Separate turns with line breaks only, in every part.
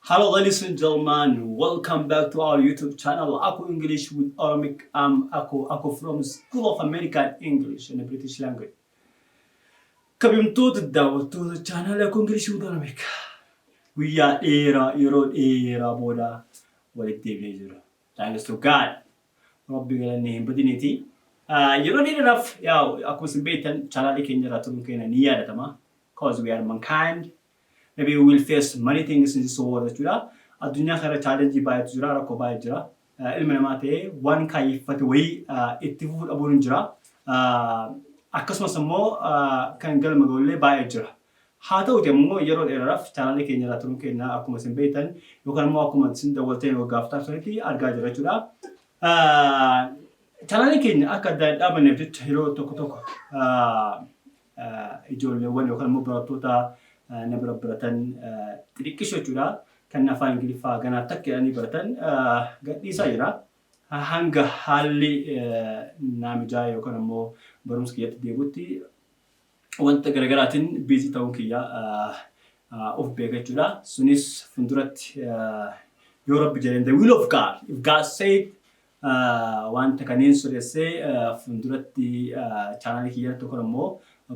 Hello ladies and gentlemen, welcome back to our YouTube channel Aku English with Oromic. I'm Aku Aku from School of American English and British Language. Kabajamtoota daawwattoota chaanaalii Aku English with Oromic. Guyyaa dheeraa yeroo dheeraa booda walitti deebi'ee jira. Thanks to God. Rabbi galanni hin badiniiti. Ah, Yeroo dheeraaf yaa akkuma isin beektan chaanaalii keenya irraa turuun keenya ni yaadatama. Cause we are mankind. Maybe we will face many things in this world jechuudha. Addunyaa kana irra challenge baay'eetu jira, rakkoo baay'ee jira. Ah, Ilmi namaa ta'ee waan kaayyeffate wayii ah, itti fufuu dhabuun hin jira. Ah, Akkasumas immoo ah, kan galma ga'ullee baay'ee jira. Haa ta'uti immoo yeroo dheeraaf chaanaalii keenya irraa turuun keenya akkuma isin beektan yookaan immoo akkuma isin daawwattan waggaa afur taasisanitti argaa jira jechuudha. Ah, Chaanaalii keenya akka adda hin dhaabanneef jecha yeroo tokko tokko ah, ijoolleewwan yookaan immoo barattoota na bira baratan xixiqqisho jechuudha. Kan afaan Ingiliffaa ganaa takka jedhanii baratan gadhiisaa jira. Hanga haalli naa mijaa'e yookaan immoo barumsa kiyyatti deebi'utti wanta garaagaraatiin biizii ta'uun kiyya of beeka jechuudha. Sunis fuulduratti yoo rabbi jedheen the will of God if God said Wanta kanneen siressee funduratti channel kiyya irratti yookaan ammoo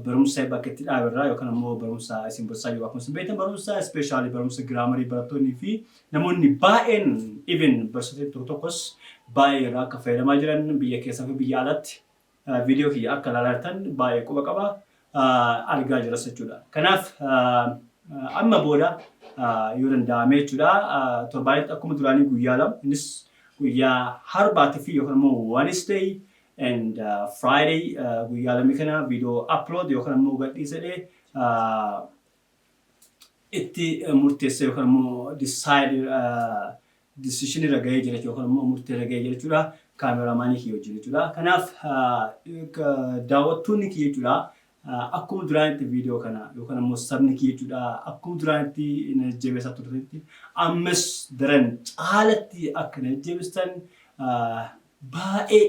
barumsa bakka itti dhaabe irraa yookaan ammoo barumsa isin barsiisaa jiru akkuma isin beektan barumsa ispeeshaalii barumsa giraamarii barattoonni fi namoonni baay'een even barsiisota tokko tokkos baay'ee irraa akka fayyadamaa jiran biyya keessaa fi biyya alatti Video kiyya akka ilaalaa jirtan baay'ee quba qaba. Argaa jiras jechuudha. Kanaaf amma booda yoo danda'ame jechuudha torbaanitti akkuma duraanii guyyaa lama innis guyyaa harbaatii fi yookaan immoo Wednesday and Friday guyyaa lamni kana video upload yookaan immoo gadhiisedhee itti murteessee yookaan immoo decide decision irra gahee jira jechuudha yookaan immoo murtee irra gahee jira jechuudha kaameraamaanii kiyya wajjin jechuudha. Kanaaf daawwattoonni kiyya jechuudha akkuma duraanitti viidiyoo kana yookaan immoo sabni kiyya jechuudha akkuma duraanitti na jajjabeessaa turtanitti ammas daran caalatti akka na jajjabeessitan baay'ee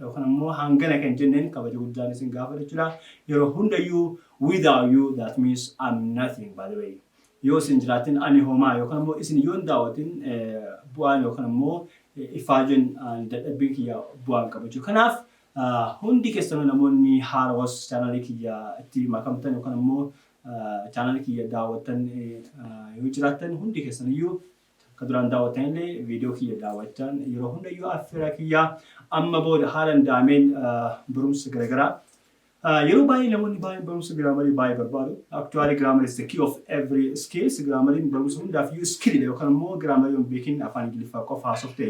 Yookan ammoo hangana kan jenneen kabaja guddaan isin gaafadha jechuudha. Yeroo hundayyuu without you that means I'm nothing by the way. Yoo isin jiraattin ani homaa yookan ammoo isin yoon daawwatin bu'aan yookan ammoo ifaajeen dadhabbiin kiyya bu'aa hin qabu jechuudha. Kanaaf hundi keessanuu namoonni haarawas chaanaalii kiyya itti makamtan yookan ammoo chaanaalii kiyya daawwattan yoo jiraattan hundi keessaniyyuu Kan duraan daawwattan illee viidiyoo kiyya daawwachaan yeroo hundayyuu affeeraa kiyya amma booda haalan daameen barumsa garaagaraa Yeroo baay'ee namoonni baay'een barumsa giraamarii baay'ee barbaadu. Actually grammar is the key of every skills. Giraamariin barumsa hundaaf iyyuu skillidha yookaan immoo giraamarii yoo hin beekin afaan Ingiliffaa qofa haasofte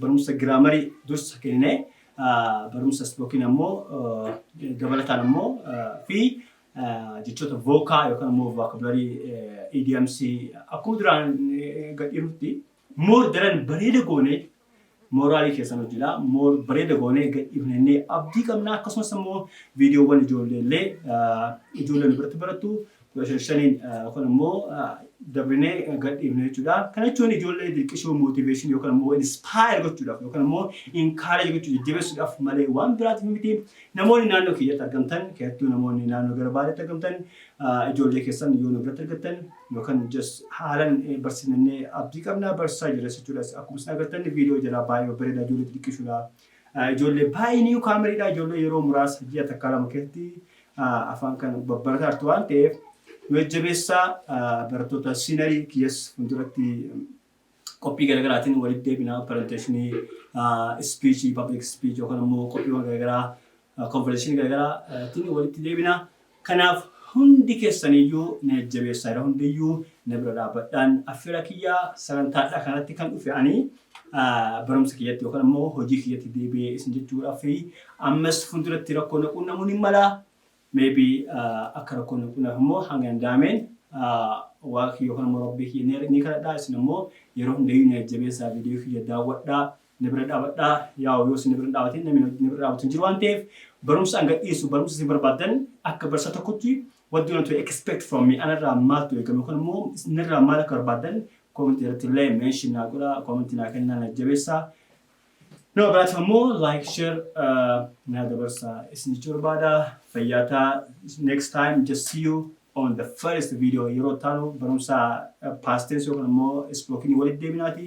Barumsa giraamarii dursa kenninee barumsa ispookiin ammoo dabalataan ammoo fi jechoota vookaa yookaan ammoo vookabularii idioms akkuma duraan gadhiirutti moor daran bareeda goonee mooraalii keessan hojjedha moor bareeda goonee gadhiifnennee abdii qabna akkasumas ammoo viidiyoowwan ijoollee illee ijoolleen biratti barattu Bashashanin kun ammoo dabrinee gad dhiifne jechuudha. Kana jechuun ijoollee dirqisuu, motivation yookaan ammoo inspire gochuudhaaf yookaan ammoo encourage gochuu jajjabeessuudhaaf malee waan biraatiif miti. Namoonni naannoo keenyatti argamtan keessattuu namoonni naannoo gara baadiyyaatti argamtan ijoollee keessan yoo nu biratti argattan yookaan just haalan barsiifnannee abdii qabna barsiisaa jirres jechuudha. Akkuma isin agartan viidiyoo jalaa baay'ee bareeda ijoollee dirqisuudha. Ijoollee baay'ee niiw kaamariidha. Ijoollee yeroo muraasa ji'a takkaa lama keessatti afaan kana babbarataa jirtu waan ta'eef nu jajjabeessaa barattoota siinarii kiyyas fuulduratti qophii garaagaraatiin walitti deebinaa pirezenteeshinii ispiichii pabliik ispiichii yookaan immoo qophiiwwan garaagaraa Konferensiin garagaraattin walitti deebina. Kanaaf hundi keessaniyyuu na jajjabeessaa yeroo hundiyyuu na bira dhaabbadhaan affeera kiyya. Sagantaadhaa kanarratti kan dhufe ani barumsa kiyyatti yookaan ammoo hojii kiyyatti deebi'ee isin jechuudhaaf ammas fuulduratti rakkoo na quunnamuun hin mala. Maybe akka rakkoon na quunnamu immoo hanga danda'ameen waaqa kiyya yookaan ammoo rabbii kiyya ni kadhadhaa isin ammoo yeroo hundayyuu na jajjabeessaa viidiyoo kiyya daawwadhaa. na bira dhaabadhaa yaa'u yoo isin na bira hin dhaabatin namni na bira dhaabatu hin jiru waan ta'eef barumsa an gadhiisu barumsa isin barbaaddan akka barsiisaa tokkotti what do you want to expect from me anarraa maaltu eegama yookaan immoo isinirraa maal akka barbaaddan koomentii irratti illee meenshin naa godha koomentii naa kennaa na jabeessaa nama biraatiif ammoo like share uh, naa dabarsaa isin jechuu barbaada fayyaa taa next time just see you on the first video yeroo taanu barumsa uh, past tense yookaan immoo spoken walitti deebinaati